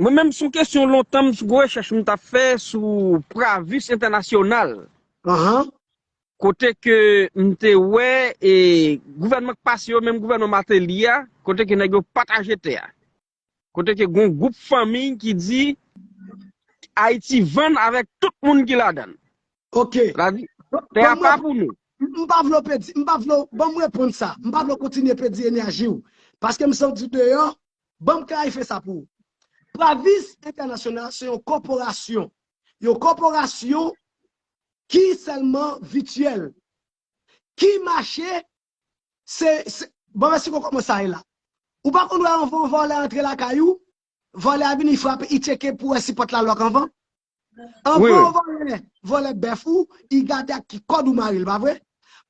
Mwen menm son kesyon lontan m sou rechèch m tap fè sou Pravis entènasyonal. Ahan. Kote ke m te wè e gouvènman k pase yo menm gouvènman Martelly a kote ke nèg yo pataje tè a. Kote ke gon gwoup fanmiy ki di Ayiti vann avèk tout moun ki ladan l. Ok. Sètadi tè a pa pou nou. M pa vle w pèdi, m pa vle w, banm reponn sa, m pa vle w kontinye pèdi enèji w. Paske m santi w deyò. Banm klarife sa pou ou. Pravis Entènasyonal se yon kòporasyon. Yon kòporasyon ki sèlman vityèl. Ki mache se, se, bon mèsi koko kòman sa ye la? Ou pa konn wè anvan yon vòlè antre lakay ou, vòlè a vini frape, li tcheke pou wè si pòt la lòk anvan? Anvan volè, volè bèf ou, i gade ak ki kòd ou mare l, pa vre?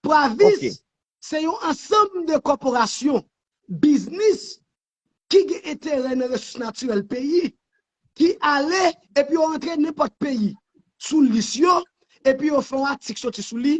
Pravis se yon ansanm de kòporasyon, biznis ki gen enterè nan resous natirèl peyi, ki ale epi yo rantre nenpòt peyi sou lis yo, epi yo fè yon atik soti sou li,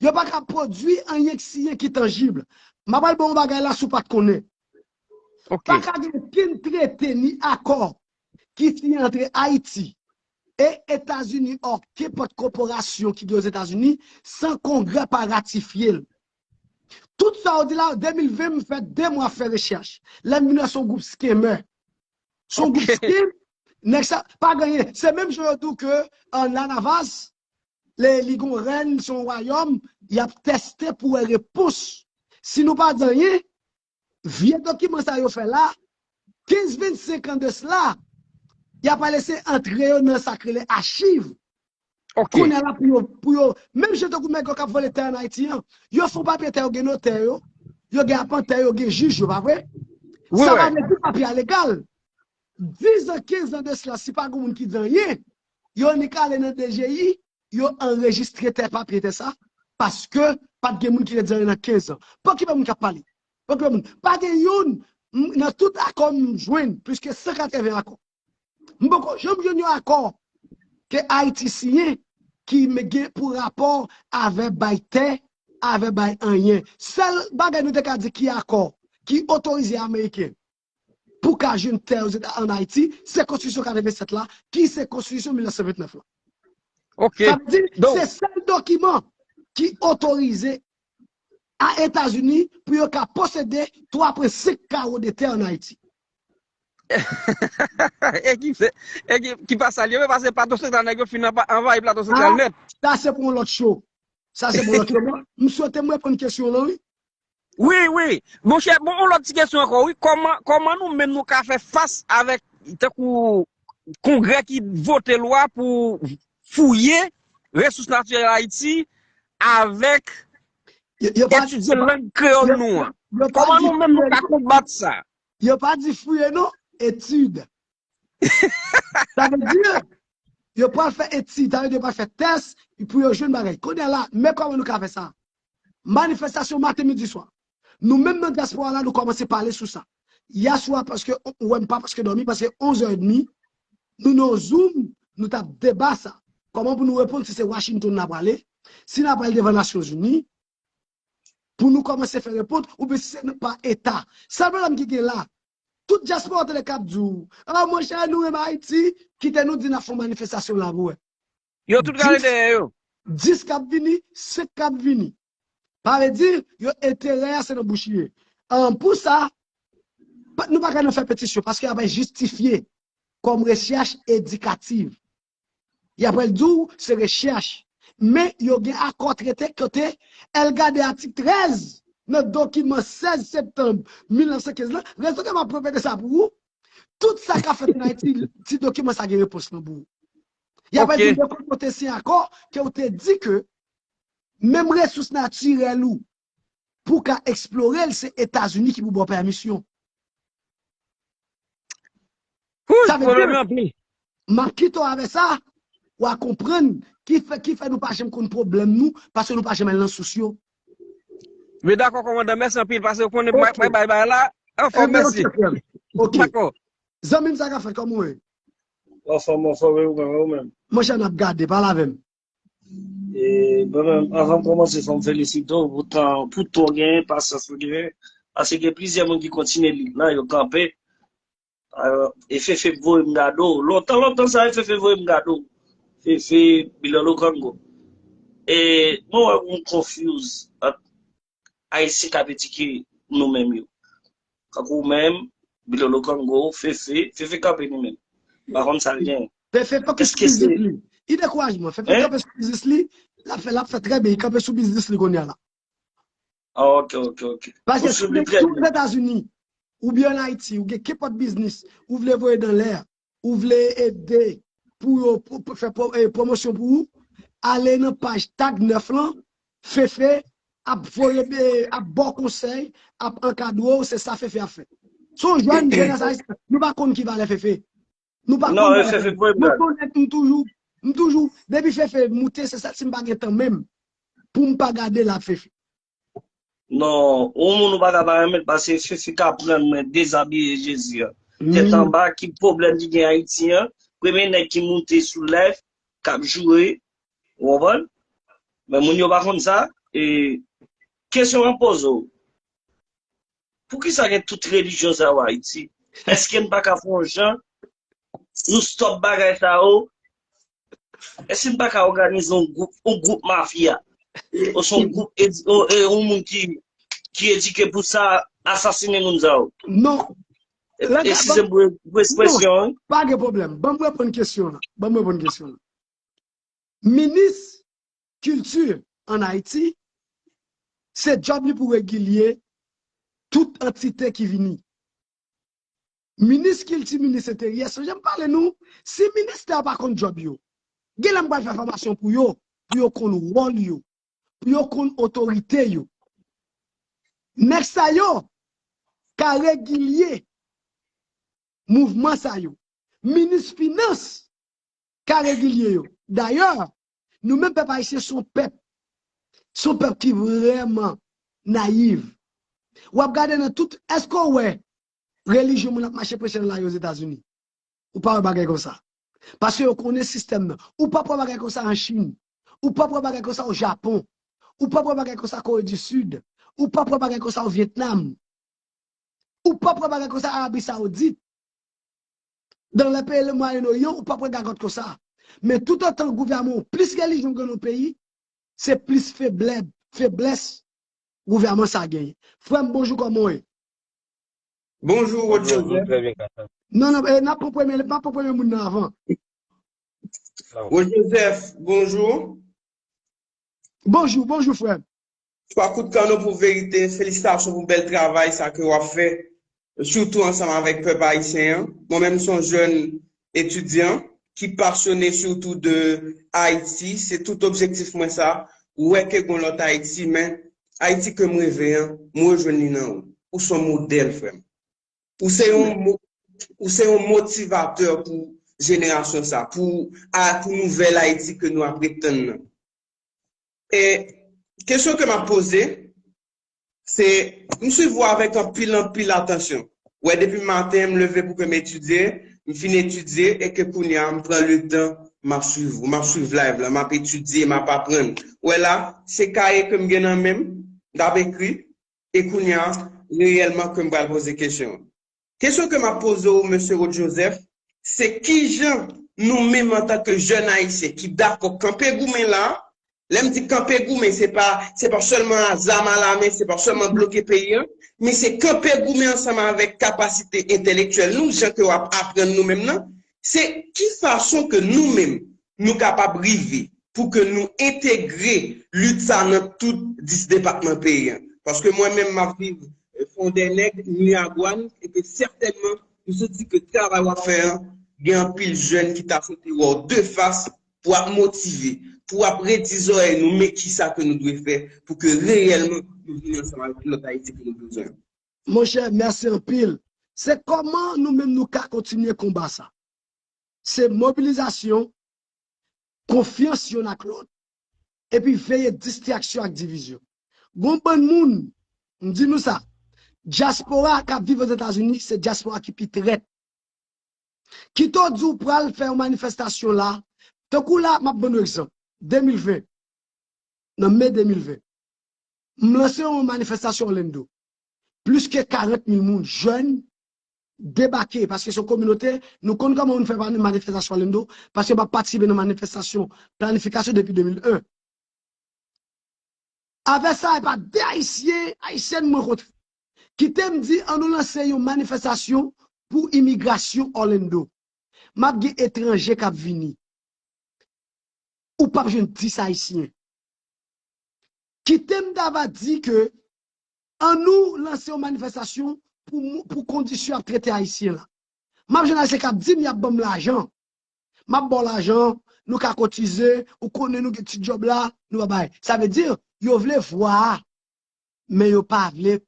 Yo pa ka pwodui anyen k siye ki tanjib. M ap al ba w yon bagay la si w pa t konnen. Pa ka gen okenn trete ni akò ki siyen antre Ayiti e Etazini ò kenpòt koporasyon ki gen Ozetazini san Kongrè pa ratifye l. Tout sa w di la, 2020 m fè 2 mwa fè rechèch. Lè m vin wè se yon gwoup scammer. Se yon gwoup scam. Nèg sa, pa gen anyen. Se menm jan yo di w ke La Navas li gon rèn son wayòm yap tèste pou wè repons si nou pa di anyen vye dokiman sa yo fè la 15 25 an de cela yap al ese antre yo nan sak rele achiv kounye la pou yo pou yo menm jan tankou nèg yo kap vòlè tè an ayiti an yo fon papye tè yo gen notè yo yo gen apantè yo gen jij yo pa vre sa pa vle di papye a legal 10 an 15 an de cela si pa gon moun ki di anyen Yo nik ale nan DGI, yo anrejistre tè papye tè sa, paske pat gen moun ki ret zanre nan 15 an. Bon ki pa moun kap pale? Bon ki pa moun? Pa gen youn nan tout akò m jwenn, plis ke 180 akò. M poko janm jwenn yon akò ke Ayiti siyen ki gen pou rapò avè bay tè, avè bay anyen. Sèl bagay nou te ka di ki akò ki otorize Ameriken pou w ka jwenn tè ozeta an Ayiti, se Konstitisyon 87 la ki se Konstitisyon 1929 lan. Ok. Sa vle di, se sèl dokiman ki otorize a Etazini pou yo ka posede 3.5 kawo de tè an Ayiti. E ki se, e ki pa sa li menm, pase Plato Santral nèg yo fin anvayi Plato Santral nèt. Sa se pou yon lòt show. Sa se pou yon lòt show. M swete m reponn kesyon w lan wi. Wi, wi. Monchè, bon, yon lòt ti kesyon ankò wi, kòman, kòman nou menm nou ka fè fas avèk tankou kongrè ki vote lwa pou fouye resous natirèl Ayiti avèk etidye lang kreyòl nou an? Kòman nou menm nou ka konbat sa? Yo pa di fouye non, etid. Sa vle di, yo pral fè etid, sa vle di yo pral fè tès pou yo jwenn bagay. Kounye a la, men kòman nou ka fè sa? Manifestasyon maten midi swa. Nou menm nan diaspora la nou komanse pale sou sa. Yè swa paske ou wèm pa paske domi paske 11 heures et demi nou nan yon zoom nou tap deba sa. Koman pou nou reponn si se Washington na prale, si na pral devan nasyon zini pou nou komanse fè repont ou byen si se nan pa eta. Sèl problèm ki gen la tout diaspora tele kap di w oh monchè nou renmen Haiti kite nou di na fon manifestasyon la pou wè. Yo tout rale dèyè yo. 10 k ap vini, 5 k ap vini. Sa vle di, yo enterè a se nan bouch li ye. Pou sa, nou pa ka nan fè petisyon paske y ap al jistifye kòm rechèch edikativ. Y ap al di w se rechèch. Men yo gen akò trete kote al gade atik 13 nan dokiman 16 septanm 1915 lan. Rezonè m ap repete sa pou ou, tout sa k ap fèt an Ayiti, ti dokiman sa gen repons lan pou ou. Ya pral di depi ou te siyen akò ke ou te di ke menm resous natirèl ou pou ka eksplore l se Etazini ki pou ba w pèmisyon. Sa vle di, m ap kite w avè sa, w a konprann ki fè nou pa janm konn pwoblèm nou paske nou pa janm al nan sous yo. Mwen dakò kòmandan, mèsi anpil paske ou konnen mwen bay bay la, anfòm mèsi. Dakò. Zanmi m sa ka fèt kòman ou ye? Anfom anfom e ou menm e ou menm. Monchè nap gade pale avèm. E mwen menm avanm komanse fòm felisite w pou tan pou tan w genyen pasyans ou genyen pase gen plizyè moun ki kontinye lit la yo kanpe e Fefe t voye m gade w lontan lontan sa e Fefe voye m gade w Fefe Bilolo Kongo e mwen wè w gon konfyouz ant Ayisyen k ap edike nou menm yo. Tankou ou menm, Bilolo Kongo, Fefe, Fefe kanpe li menm. M pa konn sa l gen. Fefe fokis sou biznis li. I dekouraje mwen. Fefe kanpe sou biznis li. L ap fè, l ap fè trè byen. Li kanpe sou biznis li kounya la. Ok, ok, ok. Paske si w gen, si w Etazini, oubyen an Ayiti, ou gen kenpòt biznis, ou vle voye dan lè a, Ou vle ede pou yo fè pwomosyon pou ou, ale nan paj Tag 9 lan, Fefe ap voye ap baw konsèy, ap ankadre w, se sa Fefe ap fè. Son jèn, jenès ayisyen, nou pa konn ki valè Fefe. Nou pa konn valè Fefe. Mwen konnen m toujou, m toujou, depi Fefe moute se sèl si m pa gen tan menm poum pa gade l ap Fefe. Non yon moun ou paka pa renmen pase fifi ka prann mwen dezabiye jezi an tèt anba ki pwoblèm ki gen ayiti an premye nèg ki moute sou live kap joure ou konprann men moun yo pa konn sa e kesyon mwen poze w Poukisa gen tout relijyon sa yo Ayiti? Eske n pa ka fè yon jan nou stop bagay sa yo? Eske n pa ka òganize yon gwoup, yon gwoup mafya? Oswa yon gwoup, yon moun ki edike pou sa asasine moun sa yo? Non. E si se pou espresyon an? Pa gen pwoblèm. Banm reponn kesyon an. Banm reponn kesyon an. Minis kilti an Ayiti, se djòb li pou regilye tout antite ki vini. Minis kilti, minis enteryè, sonje m pale nou, si ministè yo pa konn djòb yo, gen lè m pral fè fòmasyon pou yo, pou yo konn wòl yo, pou yo konn otorite yo. Nèg sa yo ka regilye mouvman sa yo. Minis finans ka regilye yo. Dayè, Nou menm pèp ayisyen son pèp, son pèp ki vrèman nayiv. Wap gade nan tout, èske w wè relijyon moun ap mache preche nan lari Ozetazini? Ou pa wè bagay konsa. Paske yo konnen sistèm nan. Ou pap wè bagay konsa an Chin. Ou pap wè bagay konsa o Japon. Ou pap wè bagay konsa Kore di Sid. Ou pap wè bagay konsa o Vyetnam. Ou pap wè bagay konsa Arabi Saoudit. Dans les pays le moyen orient ou pa pran gagot konsa. Men tout otan gouvèman ou plis relijyon gen nan yon peyi, se plis feblèb, feblès gouvèman sa genyen. Frèm bonjou koman w ye? Bonjou Rod Joseph. Non non e nap pran premye map pran premye moun nan avan. Rod Joseph bonjou. Bonjou bonjou frèm. 3 kout kanon pou verite, felisitasyon pou bèl travay sa ke wap fè sitou ansanm avèk pèp ayisyen an, mwen menm son jèn etidyan ki pasyone sitou de Ayiti, se tout objektif mwen sa, wè ke gon lòt Ayiti men Ayiti kem reve an m rejwenn li nan ou, ou son modèl frèm, ou se yon ou se yon motivatè pou jenerasyon sa, pou nouvèl Ayiti ke nou ap ret tann nan. E kesyon ke map poze se m swiv ou avèk anpil anpil atansyon. Ou wè depi maten m leve pou ke m etidye, m fin etidye e ke kounye a m pran le tan map swiv ou, map swiv live la, map etidye, map aprann. Ou wè la, se kaye ke m gen nan men m, m tap ekri e kounye a reyèlman ke m pral poze kesyon. Kesyon ke map poze w Mesye Rod Joseph, se kijan nou menm antan ke jèn Ayisyen ki dakò kanpe goumen la, lè m di kanpe goumen se pa se pa sèlman a zam a la men, se pa sèlman bloke peyi an, men se kanpe goumen ansanm avèk kapasite entèlektyèl nou, jan ke wap aprann nou menm nan, se ki fason ke nou menm nou kapab rive pou ke nou entegre lit sa nan tout 10 depatman peyi an. Paske mwen menm m ap viv Fondènèg, Miragwàn, e ke sètènman m santi ke travay w ap fè an gen anpil jèn ki ta swete wè w de fas pou ap motive, pou ap redi zòrèy nou men kisa ke nou dwe fè pou ke reyèlman nou vini ansanm avèk lòt Ayiti ke nou bezwen an. Monchè, mèsi anpil. Se kòman nou menm nou ka kontinye konba sa? se mobilizasyon, konfyans yonn ak lòt, epi veye distraksyon ak divizyon. Gon bann moun, m di nou sa, dyaspora k ap viv Ozetazini se dyaspora ki pi trèt. Kite w di w pral fè yon manifestasyon la, tankou la, m ap ban nou egzanp, 2020, nan me 2020, m lanse yon manifestasyon Orlando, plis ke 40 mil moun, jèn, debake paske se yon kominote nou konn kòman moun fè pa manifestasyon alendo paske map patisipe nan manifestasyon planifikasyon depi 2001 avè sa epa 2 ayisyen ayisyèn mwen kontre kitem di an nou lanse yon manifestasyon pou imigrasyon orlando map gen etranje kap vini ou pap jwenn 10 ayisyen kitem ta va di ke An nou lanse yon manifestasyon pou pou kondisyon yap trete ayisyen la. Map jwenn ayisyen kap dim yap banm lajan. Map baw lajan, nou ka kotize, ou konnen nou gen ti djob la, nou pa bay. Sa vle di yo vle vwa a men yo pa vle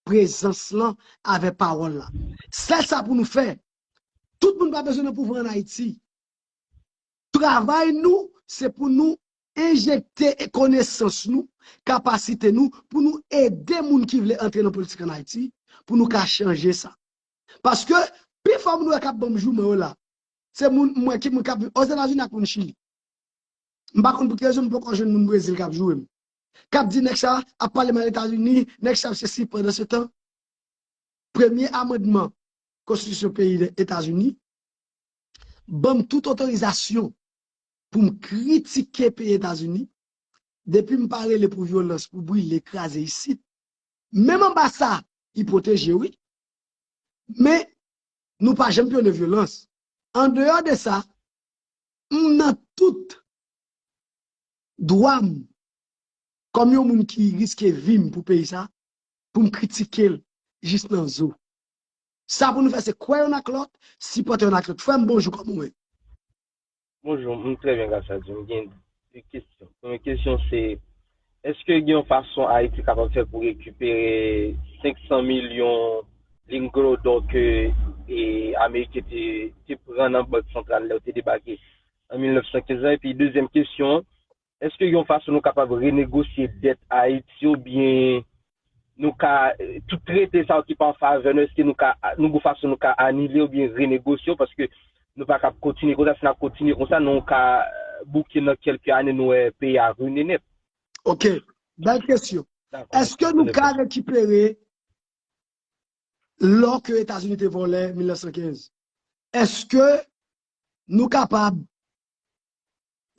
prezans lan avè pawòl la. Sèl sa pou nou fè, tout moun pa bezwen nan pouvwa an Ayiti. Travay nou se pou nou Enjekte konesans nou, kapasite nou pou nou ede moun ki vle antre nan politik an Ayiti pou nou ka chanje sa. Paske pi fò moun wè k ap ban m jouman yo la, se moun m wè ki moun k ap Ozetazini ak moun Chili. M pa konn pou ki rezon m poko jwenn moun Brezil k ap joure m. K ap di nèg sa ap pale mal Etazini, nèg sa ap sesi pandansetan premye amandman konstitisyon peyi Etazini ban m tout otorizasyon pou m kritike peyi Etazini, depi m pa rele pou vyolans, pou brile, kraze isit, menm anba sa li pwoteje wi, men nou pa janm pwone vyolans. Andeyò de sa, m nan tout dwa m kòm yon moun ki riske vi m pou peyi sa, pou m kritike l jis nan zo. Sa pou nou fè se kwè youn ak lòt, sipòte youn ak lòt. Frè m bonjou, kòman ou ye? Bonjour, m trè byen gras a Dye. M gen 2 kesyon. Premye kesyon se, eske gen yon fason Ayiti kapab fè pou rekipere 500 milyon lingots d'or ke Ameriken te pran nan bank santral lè yo te debake an 1915 lan? Epi dezyèm kesyon an, Èske yon fason nou kapab renegosye dèt Ayiti yo byen nou ka tout trete sa yo ki pa an favè nou èske nou ka nou gon fason nou ka anile yo byen renegosye yo paske nou pa kab kontinye konsa si n ap kontinye konsa nou ka bouke nan kèlke ane nou wè peyi a rine nèt. Ok, bèl kesyon. Èske nou ka rekipere lò ke Etazini te vòlè 1915? Èske nou kapab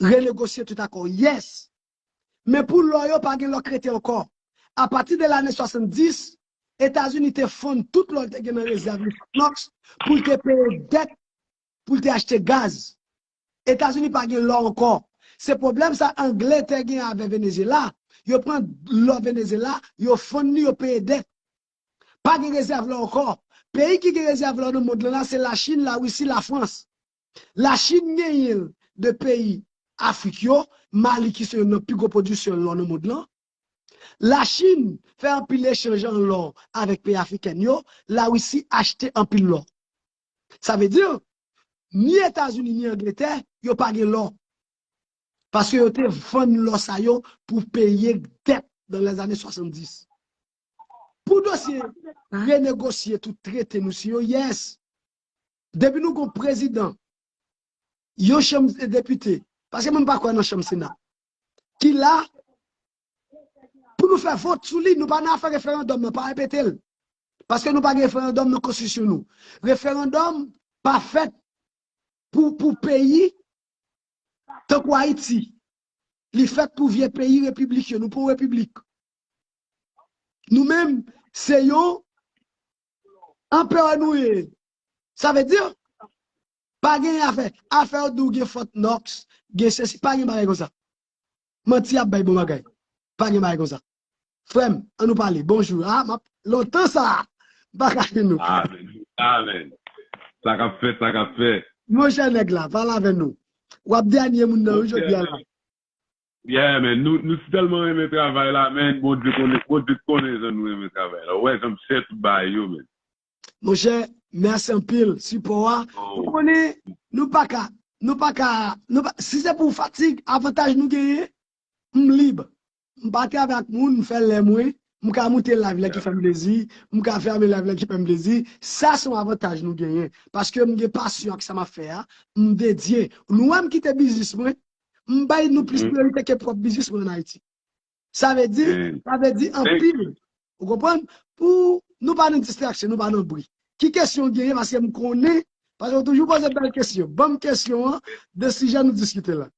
Renegosye tout akò yes. Men pou lò yo pa gen lò k rete ankò. A pati de lane 70, Etazini te fonn tout lò l te gen nan rezèv li Fort Knox pou l te peye dèt pou l te achte gaz. Etazini pa gen lò ankò. Se pwoblèm sa Angle te gen avè Venezyela, yo pran lò Venezyela, yo fonn li, yo peye dèt. Pa gen rezèv lò ankò. Peyi ki gen rezèv lò nan mond lan la se Lachin, Larisi, Lafrans. La Chine genyen l de peyi Afrik yo, Mali ki se youn nan pi gwo pwodisyè lò nan mond lan. La Chine fè anpil echanj an lò avèk peyi afriken yo, La Risi achte anpil lò. Sa vle di, ni Etazini ni Angletè yo pa gen lò, paske yo te vann lò sa yo pou peye dèt nan lèzane 70. Pou dosye renegosye tout trete nou siyo, yes! Depi nou gon prezidan yon chanm depite, paske mwen pa kwè nan chanm sena, ki la pou nou fè vot sou li, nou pa nan afè referandòm nan, pa repete l. Paske nou pa gen referandòm nan konstitisyon nou. Referandòm pa fèt pou peyi tankou Ayiti. Li fèt pou vye peyi repiblik yo, nou pa yon repiblik. Nou menm se yon Anperè nou ye. Sa vle di pa gen afè. Afè yo di w gen Fort Knox, gen sesi. Pa gen bagay konsa. Manti y ap bay bon bagay. Pa gen bagay konsa. Frè m, an nou pale. Bonjou. A, m ap, lontan sa a, m pa ka jwenn nou. Amen. Amen. Sa k ap fèt, sa k ap fèt. Monchè nèg la pale avè nou. W ap dènye moun nan wi jodi a la. Yeah man nou nou sitelman renmen travay la man bondye konnen bondye t konnen jan nou renmen travay la ou wè jan m chè tout bagay yo man. Monchè merci anpil sipò a ou konnen nou paka nou paka nou pa si se pou fatig avantaj nou genyen m lib m pa travay ak moun m fè lè mwen m ka moute live lè ki fèm plezi m ka fèmen live lè ki fèm plezi sa son avantaj nou genyen paske m gen pasyon ak sa map fè a m dedye nou wèm kite biznis mwen M bay nou plis priyorite ke pwòp biznis mwen an Ayiti. Sa vle di, sa vle di anpil. Ou konprann? Pou nou pa nan distraksyon, nou pa nan bri. Ki kesyon ou genyen paske m konnen, paske ou toujou poze bèl kesyon. Ban m kesyon an de sijè nou diskite la.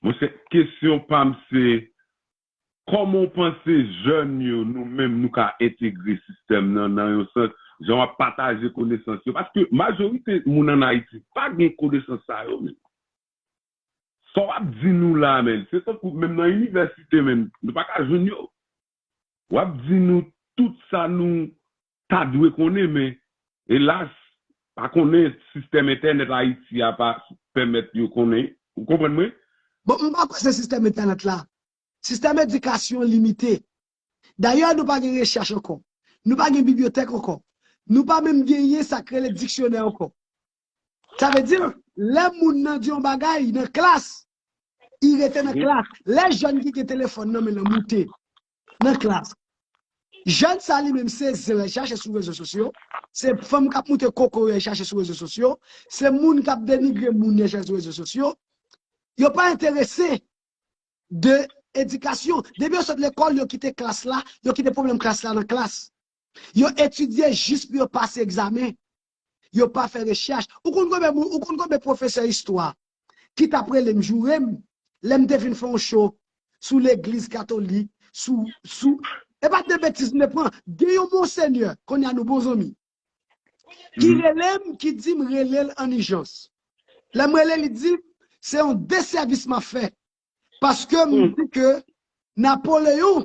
Monchè, kesyon pa m se Kòman w panse jèn yo, nou menm, nou ka entegre sistèm nan, nan yon sans, jan w ap pataje konesans yo? Paske majorite moun ann Ayiti pa gen konesans sa yo menm. Sa w ap di nou la a menm, se tankou menm nan inivèsite menm, nou pa ka jwenn yo. W ap di nou tout sa nou Ta dwe konnen men, elas, pa konnen sistèm entènèt Ayiti a pa pèmèt yo konnen. Ou konprann mwen? Bon, m pa kwè se sistèm entènèt la. Sistèm edikasyon limite. Dayè nou pa gen rechèch ankò. Nou pa gen bibliyotèk ankò. Nou pa menm genyen sa k rele diksyonè ankò. Sa vle di, lè moun nan di yon bagay nan klas, li rete nan klas. Lè jèn ki gen telefòn nan men l lan moute nan klas. Jèn sa li menm se zen lèl chache sou rezo sosyo, se fanm kap moute kokoye lèl chache sou rezo sosyo, se moun kap denigre moun lèl chache sou rezo sosyo. Yo pa enterese de edikasyon. Depi yo sot lekòl yo kite klas la, yo kite pwoblèm klas la nan klas. Yo etidye jis pou yo pase egzamen. yo pa fè rechèch. Ou konn konbyen moun, ou konn konbyen pwofesè istwa ki t ap rele m, joure m, lè m te fin fè yon show sou legliz katolik, sou, sou, e pa t de betiz m te pran. Gen yon monsenyè, kounye a nou bon zanmi, ki rele m, ki di m rele l an ijans. Lè m rele l, li di m, se yon desèvis m ap fè, paske m di ke Napoleon.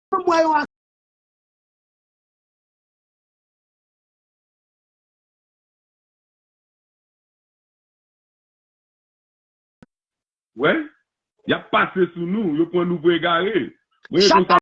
Banm wè yon ak. Wè yap pase sou nou yo pwan nou pou egare mwen e konsa.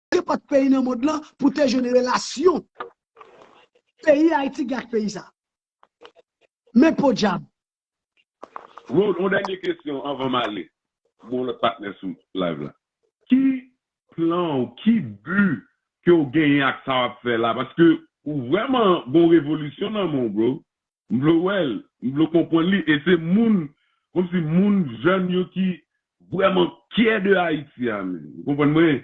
Nenpòt peyi nan mond lan pou te jwenn relasyon peyi Ayiti gen ak peyi sa. Men podyab! Rod, yon dènye kesyon anvan m ale pou yon lòt patnè sou live la. Ki plan w, ki bi ke w genyen ak sa w ap fè la? Paske ou vrèman gen yon revolisyon nan men w bro. M vle wèl, m vle konprann li e se moun komsi moun jèn yo ki vrèman kyè de Ayiti a menm ou konprann mwen,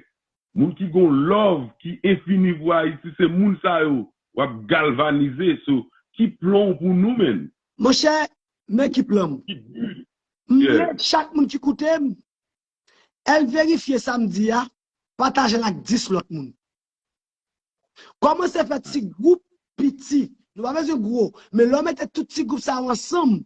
moun ki gon lòv ki enfini pou Ayiti se moun sa yo wap galvanize so ki plon w pou nou menn? Monchè men ki plan m. Ki but ou? M vle chak moun ki koute m el verifye sa m di a, pataje l ak 10 lòt moun. Kòmanse fè ti gwoup piti, nou pa bezwen gwo, men lè w mete tout ti gwoup sa yo ansanm,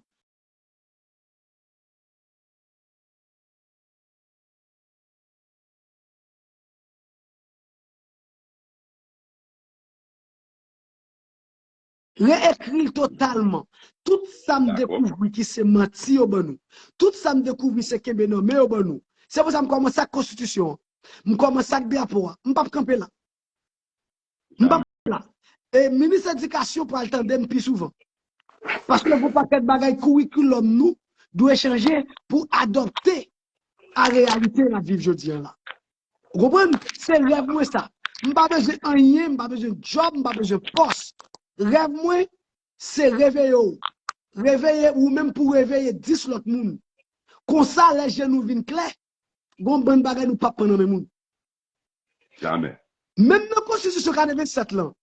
Re-ekri l totalman. Tout sa m dekouvri ki se manti yo ban nou. Tout sa m dekouvri se kenbe nan men yo ban nou. Se pou sa m kòmanse ak konstitisyon an. M kòmanse ak drapo a. M pap kanpe la. M pap kanpe la. E minis edikasyon pral tande m pi souvan. Paske gwo pakèt bagay kourikoulòm nou dwe chanje pou adopte a reyalite n ap viv jodi an la. Ou konprann? Se rèv mwen sa. M pa bezwen anyen, m pa bezwen djòb, m pa bezwen pòs. Rèv mwen, se reveye w. Reveye ou menm pou reveye 10 lòt moun. Konsa lè je nou vin klè, gon bann bagay nou pap pran nan men moun. Jamè. Menm nan konstitisyon 87 lan.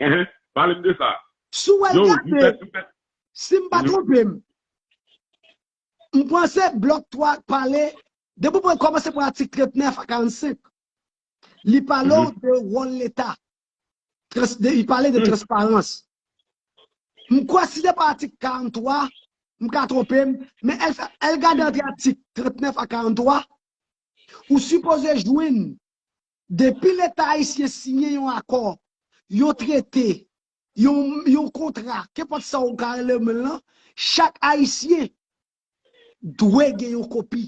Ehe, pale m de sa. Si w al gade, si m pa twonpe m. M panse blòk 3 ak pale, depi w pran kòmanse pran atik 39 a 45, li pale w de wòl leta, li pale de transparans. M kwè si se pa atik 43, m ka twonpe m, men el gade ant atik 39 a 43, ou sipoze jwenn depi leta ayisyen siyen yon akò, yon trete, Yon kontra, kenpòt sa ou ka rele men l lan, chak Ayisyen dwe gen yon kopi.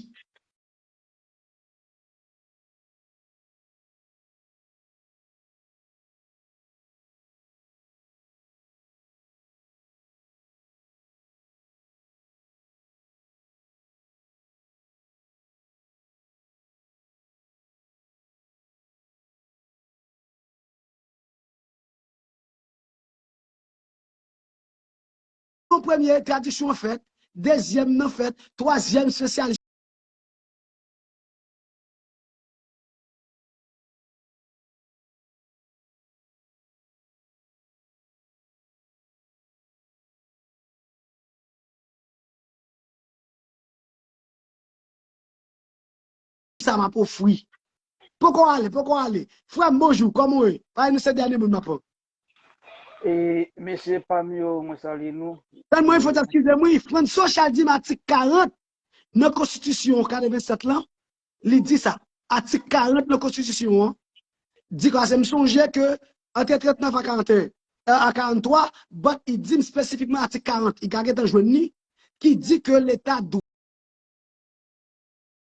Yon premye tradisyon fèt, dezyèm nan fèt, twazyèm spesyal. sa map ofri. Poko ale, poko ale. Frèm bonjou, kòman ou ye? Paye nou se dènye moun map. E mesye pam yo mwen salye nou. Frèm mwen fòt eskizem wi, frèm si w chal dim atik 40 nan konstitisyon 87 lan, li di sa. Atik 40 nan konstitisyon an di konsa se m sonje ke ante 39 a 41, a 43, but li dim spesifikman atik 40, li ka gentan jwenn li, ki di ke leta dwe.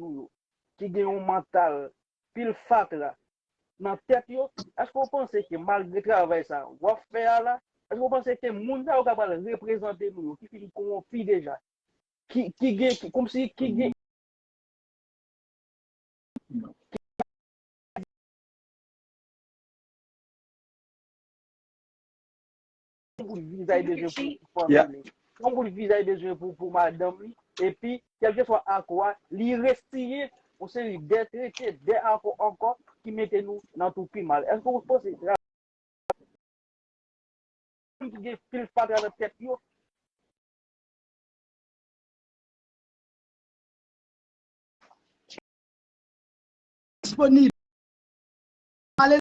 nou yo ki gen yon mantal pil fatra nan tèt yo, èske w panse ke malgre travay sa w ap fè a la, èske w panse ke moun sa yo k ap pral reprezante nou yo ki fin konwonpi deja, ki gen, kòmsi ki gen, Yon bout vizay bezwen pou fanmi Yeah. li. Yon bout vizay bezwen pou pou madanm li. Epi, kèlkeswa akò a, li resiyen yon seri de trete, de akò ankò ki mete nou nan twou pi mal. Èske ou panse sa moun ki gen pil fatra nan tèt yo disponib. Pale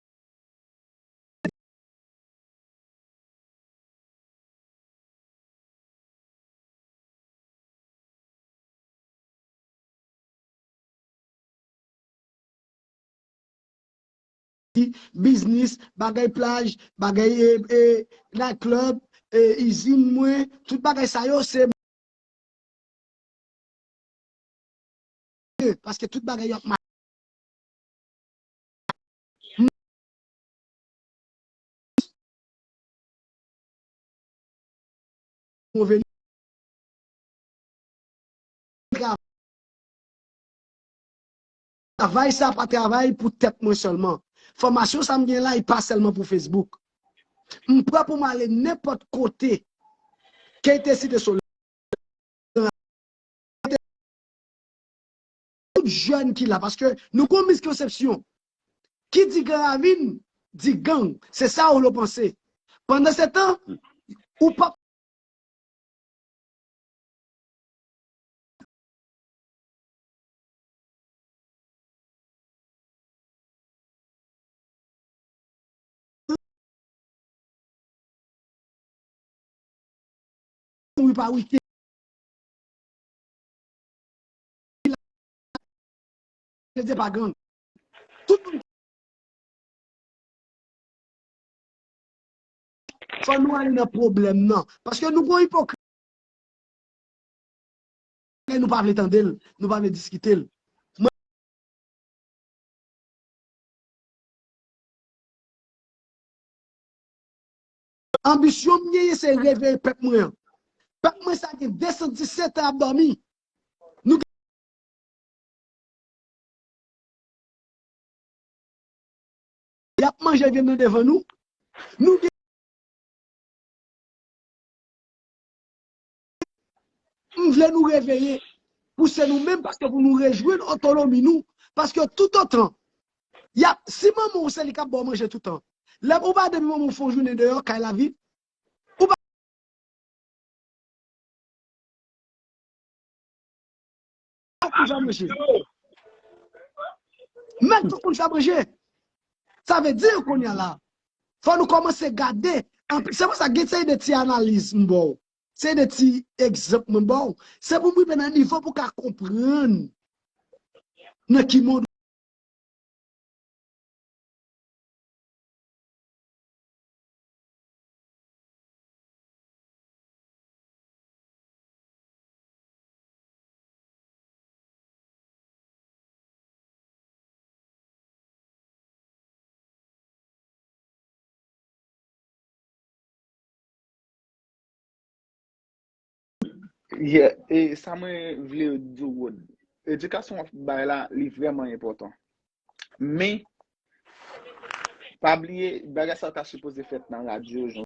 biznis, bagay plaj, bagay night club, izin mwen, tout bagay sa yo se mwen, paske tout bagay yo ap mache. Pwoveni travay sa pa travay pou tèt mwen sèlman. Fòmasyon sa m gen la li pa sèlman pou Facebook. M prè pou m ale nenpòt kote ke te site sou Tout jèn ki la paske nou gon miskonsepsyon ki di gran ravin di gang se sa yo panse pandan se tan ou pap Kretyen pa gang. Tout moun. Fò nou ale nan pwoblèm nan. Paske nou gon ipokrit. Lè nou pa vle tande l, nou pa vle diskite l. Anbisyon m genyen se reveye pèp mwen an. Pèp mwen sa gen 217 an ap dòmi. Y ap manje vyann nan devan nou. Nou gen. M vle nou reveye pou se nou menm paske pou nou rejwenn otonomi nou paske toutotan yap si manman w se li kap ba w manje toutan lè ou pa depi manman w fè yon jounen deyò kay la vid ou pa Tout moun fè manje. Men tout moun fè manje. Sa vle di kounye a la, fò nou kòmanse gade, se pou sa gen seri de ti analiz m ba w, seri de ti egzanp mwen ba w, se pou m rive nan nivo pou w ka konprann nan ki mond. Yeah, e sa mwen vle di w Rod, edikasyon w ap bay la li vrèman enpòtan. Men, pa bliye bagay sa ta sipoze fèt nan radyo jan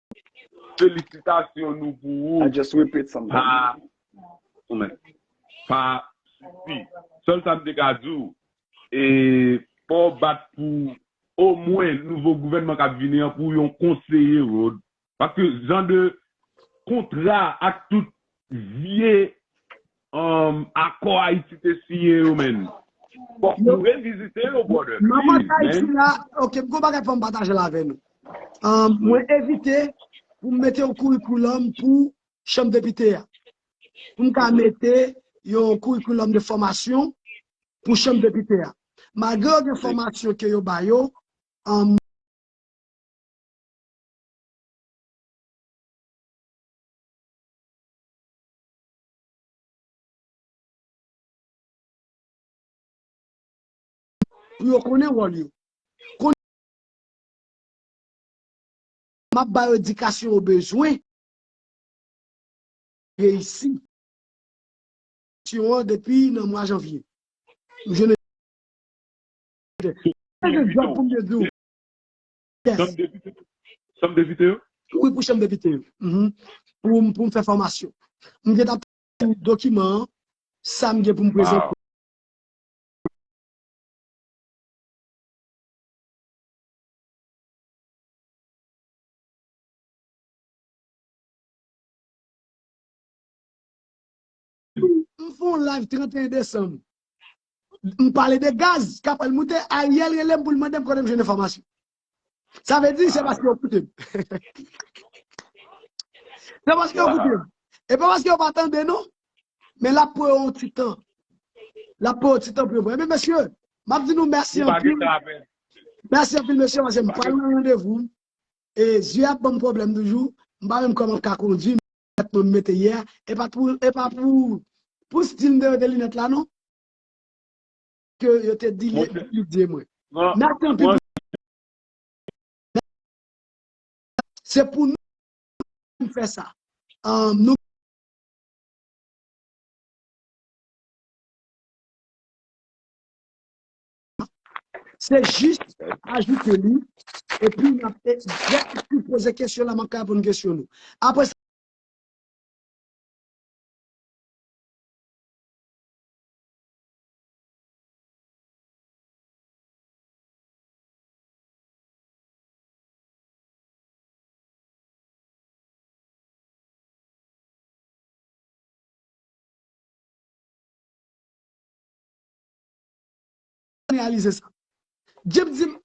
Felisitasyon nou pou ou. I just repeat some things. Pa mwen. Pa sifi. Sèl sa m te ka di w, e fò w bat pou omwen nouvo gouvènman k ap vini an pou yon konseye Rhode. Paske jan de kontra ak tout vye Akò Haiti te siyen yo menn. Bon nou revizite yo brother. Nan match Haiti la ok m gon bagay fòm patajel avè nou. Mwen evite poum mete yon kourikoulòm pou chanm depite a. Poum ka mete yon kourikoulòm de fòmasyon pou chanm depite a. Malgre yo gen fòmasyon ke yo ba yo an. Pou yo konnen wòl yo. Konnen. M ap ba yo edikasyon yo bezwen. Reyisi. Syon an depi nan mwa janvye. M jwenn. Mwen gen dwa pou m te di w. Chanm depite? Chanm depite yo? Wi pou chanm depite yo. Poum poum fè fòmasyon. M gen tap tann dokiman an sam gen poum prezante. M fè yon live 31 desanm m pale de gaz k ap pral moute Ariel rele m pou l mande m kote m jwenn enfòmasyon sa vle di se paske yo koute m se paske yo koute m e pa paske yo pa tande non men l ap pran yon ti tan l ap pran yon ti tan pou yo pran e men mesye m ap di nou mèsi anpil mèsi anpil mesye paske m pral nan randevou m e zye ap ban m pwoblèm toujou m pa menm kòman m ka kondui. Linèt moun mete yè a epa pou epa pou pou stil deyò de linèt la non ke yo te di li etidye mwen nan tan pi se pou nou menm fè sa nou Se jis ajoute li epi n ap egzakteman poze kesyon la, m ap ka reponn kesyon nou. Apre sa. reyalize sa. Jip di m,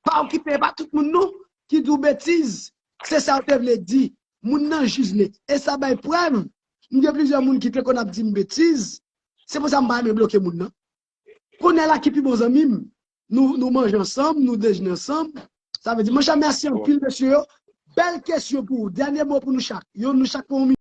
pa okipe e pa tout moun non ki di w betiz, se sa w te vle di, moun nan jij li e sa bay prèv m gen plizyè moun ki te konn ap di m betiz, se pou sa m pa renmen bloke moun nan. Konnye la ki pi bon zanmi m, nou manje ansanm, nou dejne ansanm, sa vle di monchè mèsi anpil mesye yo, bèl kesyon pou ou, dènye mo pou nou chak, yon nou chak pou yon minit.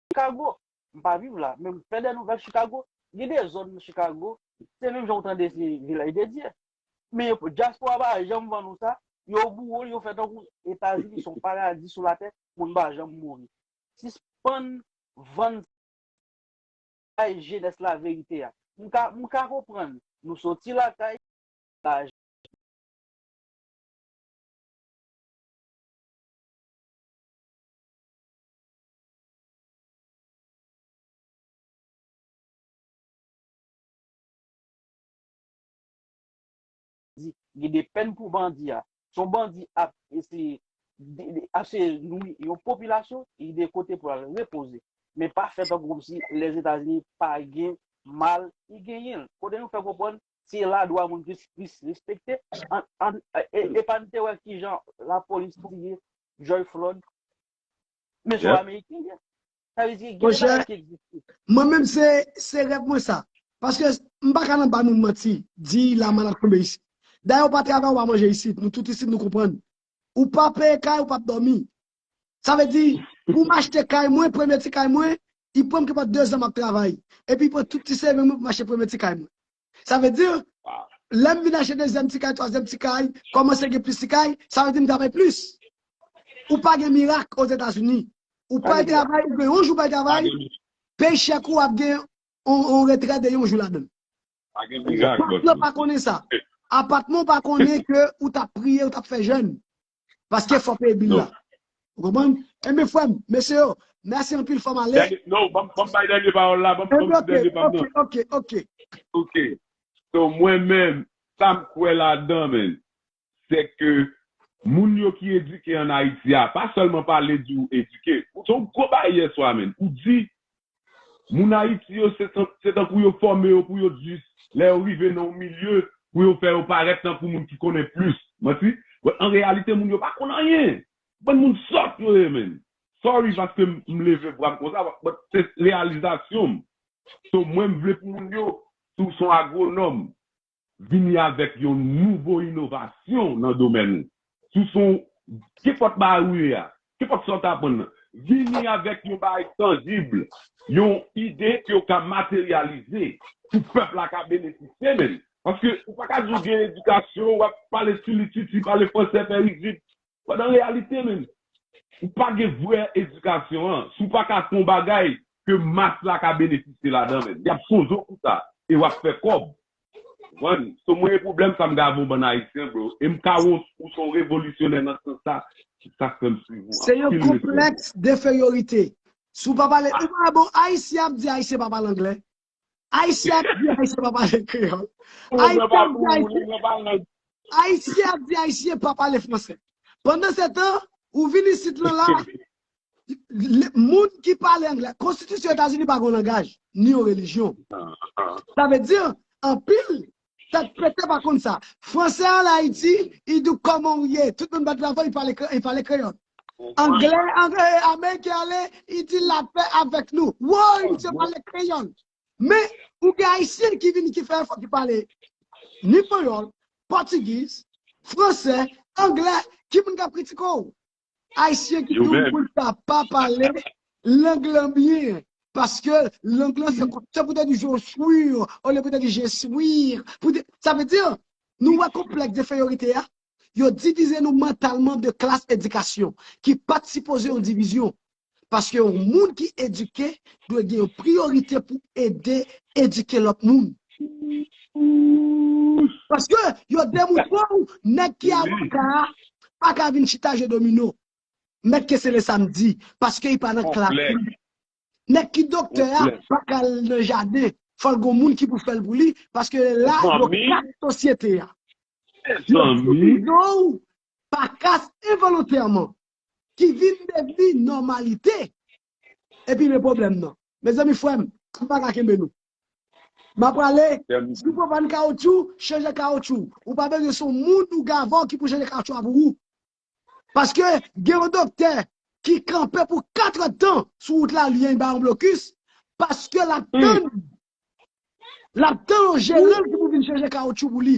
Chicago, m pa viv la, men m fè dè nouvèl Chicago, gen de zòn nan Chicago, se menm jan ou tande se Vilaj de Dye. Men dyaspora pa janm vann ou sa, yo boure l, yo fè tankou Etazini son paradi sou latè, moun pa janm mouri. Sispann vann bay jenès la verite a. M ka, m ka konprann, nou soti lakay, lajan, Gen de pèn pou bandi a. Si yon bandi ap eseye ap eseye nwi yon popilasyon, gen de kote pou l al repoze. Men pa fè tankou kòmsi Lèzetazini pa gen mal, li genyen l. Kote nou fè konprann se la dwa moun plis plis respekte. Epa n te wè kijan lapolis touye George Floyd, Men son ameriken ye. Sa vle di gen de bagay ki egziste. Mwen menm se rèv mwen sa. Paske m pa ka nan ba moun manti, di la mal ap tonbe isit. Dayè ou pa travay ou pa manje isit. Nou tout isit nou konprann. Ou pa peye kay ou pap dòmi. Sa vle di pou m achte kay mwen, premye ti kay mwen, li pran m ki pa 2 zan m ap travay. Epi pran tout ti seving mwen pou m achte premye ti kay mwen. Sa vle di, lè m vin achte dezyèm ti kay, twazyèm ti kay, kòmanse gen plis ti kay, sa vle di m travay plis. Ou pa gen mirak Ozetazini. Ou pral travay, ou gen yon jou ou pral travay, peye chèk ou ap gen yon retrè de yon jou ladan l. Pa gen mirak. Pati yo pa konnen sa. Apatman ou pa konnen ke ou t ap priye, ou t ap fè jèn. Paske fò peye bil la. Ou konprann? Enben frè m, mesye yo, mèsi anpil fò m ale. Non, ban m bay dènye pawòl la, ban m di dènye pa m nan. Ok, ok, ok. Ok. So mwen menm, sa m kwè ladan men, se ke moun yo ki edike an Ayiti a, pa sèlman pale di ou edike. Son gwo bagay yèswa men. Ou di Moun Ayiti yo se tankou yo fòme yo pou yo di lè yo rive nan yon milye pou yo fè yo parèt tankou moun ki konnen plis. Manti. But an reyalite moun yo pa konn anyen. Bann moun sòt yo ye menn. Sorry paske m leve vwa m konsa but se reyalizasyon m. So mwen m vle pou moun yo si w se yon agwonòm, vini avèk yon nouvo inovasyon nan domèn ou, sou son ou, kenpòt bagay ou ye a, kenpòt sa ou ta aprann nan, vini avèk yon bagay tanjib, yon ide ke ou ka materyalize pou pèp la ka benefisye menm. Paske ou pa ka di ou gen edikasyon, w ap pale tchilitchiti, pale fransè fè rizib, Pandan reyalite men ou pa gen vrè edikasyon an, si w pa ka fè yon bagay ke mas la ka benefisye ladan men y ap sozo pou sa e w ap fè kòb. Konprann? So mwen e pwoblèm sa m gade yon bann Ayisyen bro e m ka wè ou se yon revolisyonè nan sans sa, se sa k fè m swiv ou Se yon anpil respè. konplèks denferyorite. Si w pa pale, ou pa wè bon Ayisyen ap di Ayisyen pa pale anglè? Ayisyen ap di Ayisyen pa pale kreyòl. Ayisyen ap di Ayisyen pa pale franse. Pandan se tan, ou vin isit lan la, moun ki pale angle, konstitisyon Etazini pa gen yon langaj, ni yon relijyon. Sa vle di, anpil Tèt pete pa konn sa. Fransè al Ayiti i di w kòman w ye. Tout moun bat bravo i pale kreyòl. Anglè ameriken ale i di lapè avèk nou. Woy misye pale kreyòl. Men ou gen ayisyen ki vini ki fè efò ki pale ni panyòl, pòtigiz, fransè, anglè ki moun k ap kritike w? Ayisyen ki dou pou l ta pa pale lang lan byen paske lang lan se pou ta di je suis olye pou ta di je swir sa vle di nou wè konplèks denferyorite a yo divize nou mantalman de klas edikasyon ki pat sipoze yon divizyon paske yon moun ki edike dwe gen yon priyorite pou ede edike lòt moun. Paske yo demontre w nèg ki avoka a pa ka vin chita jwe domino. Mèt Kesele sa m di, paske li pa nan klas la. Nèg ki doktè a pa ka al nan jaden, fò l gen yon moun ki pou fè l pou li, paske lè la yo kat sosyete a. Yo divize w pa kas envolontèman. ki vin devni nòmalite epi men pwoblèm nan mezanmi frèm m paka kenbe nou m ap prale si w pa vann kawotyou chanje kawotyou ou pa bezwen se yon moun ou gavò ki pou chanje kawotyou a pou ou paske gen yon doktè ki kanpe pou 4 èd tan sou wout la li bay yon blokis paske l ap tann l ap tann yon jeran ki pou vin chanje kawotyou pou li.